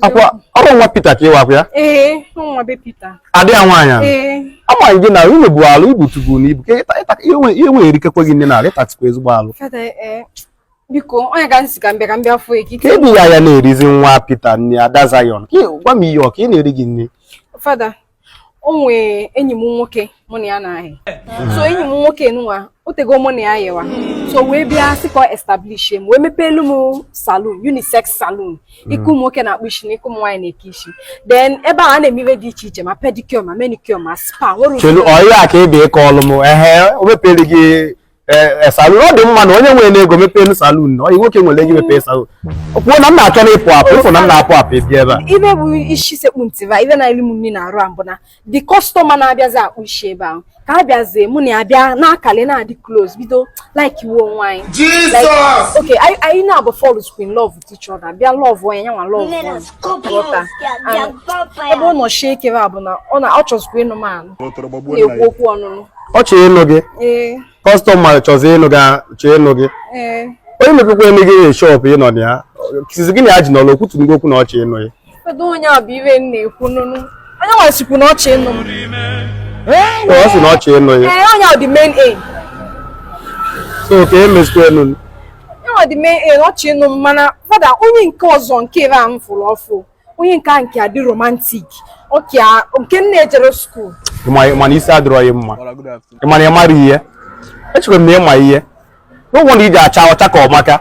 akwa ọ bụ nwa Pita ka ị wakwa ya ee nwa be Pita adị ya nwaanyị a ee amaghị gị na unu bụ alụ ibu tubu na ibu ka ịta- ịta- ihe nwe- ihe na-erikekwa gị nni n'alụ ị tatikwa ezigbo alụ fada ee biko ọ ngị ka m sị ka m bịa ka m bịa fụ eki ka ebi ya ya na-erizi nwa Pita nni Ada Zion ka ị- gwa m ihe ọ ka ị na-eri gị nni fada o nwee enyi m nwoke mụ na ya na-ayị so enyi m nwoke nwa o tego mụ na ya yịwa so wee bịa sị ka ọ establish m wee mepeelu m salon unisex salon nke ụmụ nwoke na-akpụ isi na nke ụmụ nwaanyị na-eke isi then ebe a na-eme ihe dị iche iche ma pedicure ma manicure ma spa nwere ụdị- chelu ọ ya ka ị bịa ịkọlụ m ehe o mepere gị ee salon ọ dị mma na onye nwere ego mepeenụ salon na ọyị nwoke nwere ego mepee salon kwuo na m na-achọ na ịpụ apụ ị fụ na m na-apụ apụ ebi ebe a ife bụ isi sekpu ntị ba ife na-eri m nri n'arụ a bụ na the customer na-abịazi akpụ isi ebe ahụ ka a bịazie mụ na ya bịa na-akali na-adị close bido likewa onwe anyị Like, okay anyị anyị naabọ falls in love each other bịa lọvụ onye nyanwa lọvụ onye ebe ọ nọ sie ike a bụ na ọ na ọ chọzikwa ịnụ m anụ na-ekwu okwu ọnụnụ ọ chọrọ ịnụ gị customer chọzi ịnụ gị chọọ ịnụ gị onye mepekwaanụ gị shop ị nọ na ya sịzi gị na ya ji n'ọlụ o kwutugo okwu na ọ chọ ịnụ gị Kedu onye a bụ iwe m na-ekwu ọnụnụ? Onye nwa sịkwu na ọ chọ ịnụ m. Ee, ọ sị na ọ chọ ịnụ ya. Ee, onye a dị main aim. So kee emezikwanụ. Onye nwa dị main aim ọ chọ ịnụ m mana fada onye nke ọzọ nke ebe a m fụrụ ọfụ. Onye nke a nke a dị romantic. Ọkị a nke nne ejerọ school. Ị ma na isi adịrọ gị mma. Ị ma na ị marọ ihe. Echekwa m na ị ma ihe. ụgwọ na i ji acha ọcha ka ọ maka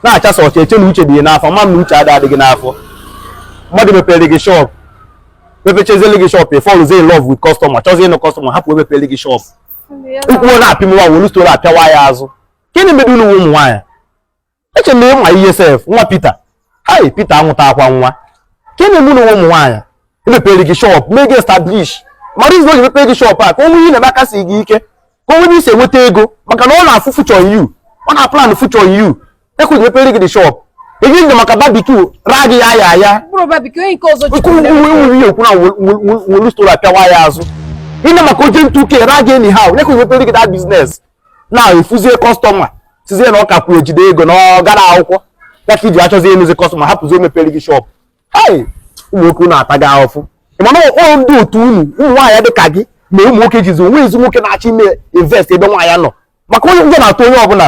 na-achasa ọcha e chee na uche dị gị n'afọ ma na uche ada adịghị n'afọ mmadụ mepere gị shop mepechezele gị shop ị fọlụzie in love with customer chọzie ịnụ customer hapụ onye mepere gị shop ụkwụ na-apịmwa wolu storo apịawa ya azụ gịnị mere unu ụmụ nwaanyị eche na ị ma ihe sef nwa Pita hai Pita anwụta akwa nwa kee na-eme unu ụmụ nwaanyị e mepere gị shop mee gị establish mara izu o ji mepere gị shop a ka o nwee ihe ị na-eme aka sie gị ike ka o nwee ị si enweta ego maka na ọ na-afụ future unu ọ na-aplan future unu ya ka o ji mepere gị the shop ego ije maka barbecue ra gị ya ya ya nke nwere ihe okwu na nwere stora apịawa ya azụ ịna maka oje ntụ uke ra gị anyhow ya ka o ji mepere gị that business na ị fụzie customer sịzie na ọ kakwu ejide ego na ọ gara akwụkwọ ya ka i ji achọzi ịnụzi customer hapụzi onye mepere gị shop hei ụmụ nwoke unu atago ahụfụ ị ma na ọ ndị otu unu ụmụ nwaanyị dị ka gị na ụmụ nwoke jizi o nwezi nwoke na-achọ ime invest ebe nwaanyị nọ maka na ụjọ na-atụ onye ọbụla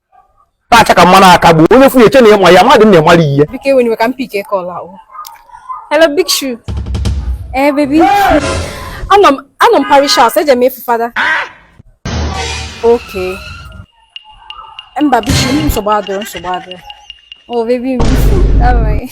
na-acha ka mmanụ aka gbuo onye fụ gị e chee na ị ma ihe mmadụ na-amara ihe Hello, Big Shoe. Eh, baby. Anọ m anọ m parish house, eje m ịfụ fada. Okay. Mba, Big Shoe, nsogbu adịrọ, nsogbu adịrọ. Oh, baby, m bifu. Alright.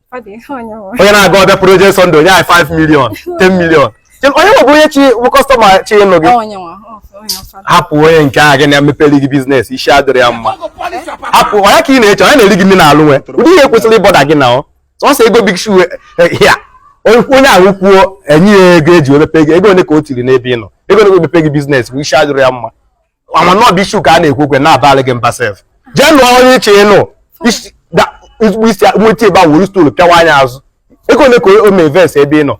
onye na-aga ọbịa project Sunday o nye anyị 5 million 10 million onye nwebụ onye chi bụ kọstọma chọ ịnụ gị hapụ onye nke ahụ gị na-emepere gị biznes isi adịrị ya mma hapụ onye ka ị na-eche onye na-eri gị nri n'alụ nwe ụdị ihe kwesịrị ịbọda gị na ọ sọsọ ego big shoe eh, ya onye ahụ kwuo enye ya ego eji emepe gị ego ole ka o tiri n'ebe ị nọ ego ole ka emepe gị biznes bụ isi adịrị ya mma ama na ọ big shoe ka a na-ekwu okwe na-abalị gị mba sef jee nụọ onye ị chọ ịnụ isi- da- ezigbo isi nweta ebe a wuru stoolu pịawa anya azụ ego ole ka o mee invest ebe ị nọ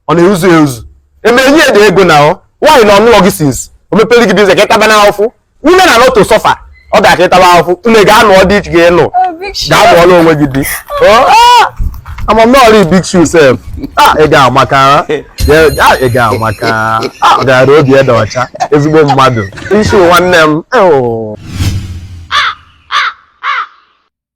ọ na-ezuzu ezuzu emere nye gị ego na ọ nwaanyị na ọ nụlụ gị sins o mepere gị biznes ka ịtaba na ahụfụ nne na nọtụ sọfa ọ ga-aka ịtaba ahụfụ nne gaa nụọ di ị chọ ịnụ Oh, big shoe. gaa nụọlụ onwe gị di Oh. ama m n'ọrụ big shoe sef ah, ị ga-amaka ah, ị ga-amaka ah, ọ gara obi ya dị ọcha ezigbo mmadụ isi nwanne m